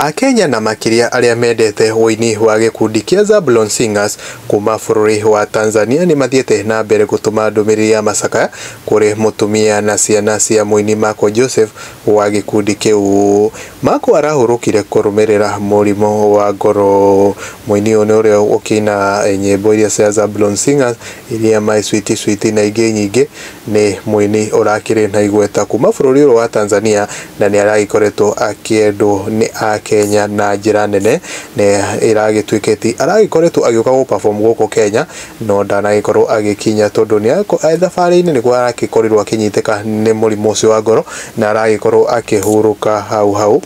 Akenya na makĩria arĩa mendete ũini wa gĩkundi kĩa Zablon Singers kuma bũrũri wa Tanzania nĩ mathiĩte na mbere gũtũma ndũmĩrĩri ya macakaya kũrĩ mũtumia na ciana cia mũini Marco Joseph wa gĩkundi kĩu. Marco arahurũkire kũrũmĩrĩra mũrimũ wa ngoro. Mũini ũyũ nĩ ũrĩa ũkĩina nyĩmbo iria cia Zablon Singers iria My Sweetie Sweetie na ingĩ nyingĩ Nĩ mũini ũrakĩrĩ na igweta kuma bũrũri ũyũ wa Tanzania na nĩ aragĩkoretwo akĩendwo nĩ Akenya na njĩra nene na ĩragĩtuĩka atĩ aragĩkoretwo agĩũka gũ perform gũkũ Kenya no ndanagĩkorwo agĩkinya tondũ nĩ e thabarĩ-inĩ nĩguo aragĩkorirwo akĩnyitĩka nĩ mũrimũ ũcio wa ngoro na aragĩkorwo akĩhurũka hau hau.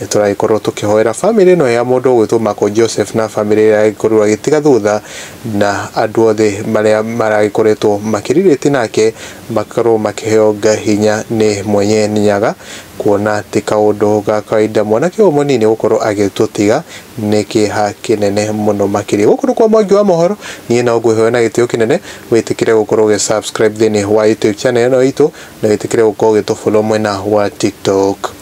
Nĩ tũragĩkorũo tũkĩhoera famĩlĩ ĩno ya mũndũ ũgwĩtwo Marco Joseph na famĩlĩ ĩrĩa ĩragĩkorirũo ĩgĩtiga thutha na andũ othe marĩa maragĩkoretwo makĩrirĩti nake makorũo makĩheo hinya nĩ Mwenye Nyaga kuona ti kaũndũ ga kawaida mwanake ũyũ mũnini gũkorũo agĩtũtiga nĩ kĩeha kĩnene mũno makĩria. Gũkũ nĩ kwa Mwangi wa Mohoro, niĩ no ngwĩhoe na gĩtĩo kĩnene wĩtĩkĩre gũkorũo ũgĩ subscribe thĩinĩ wa YouTube channel ĩno itũ na wĩtĩkĩre gũkorũo ũgĩtũ follow mwena wa TikTok.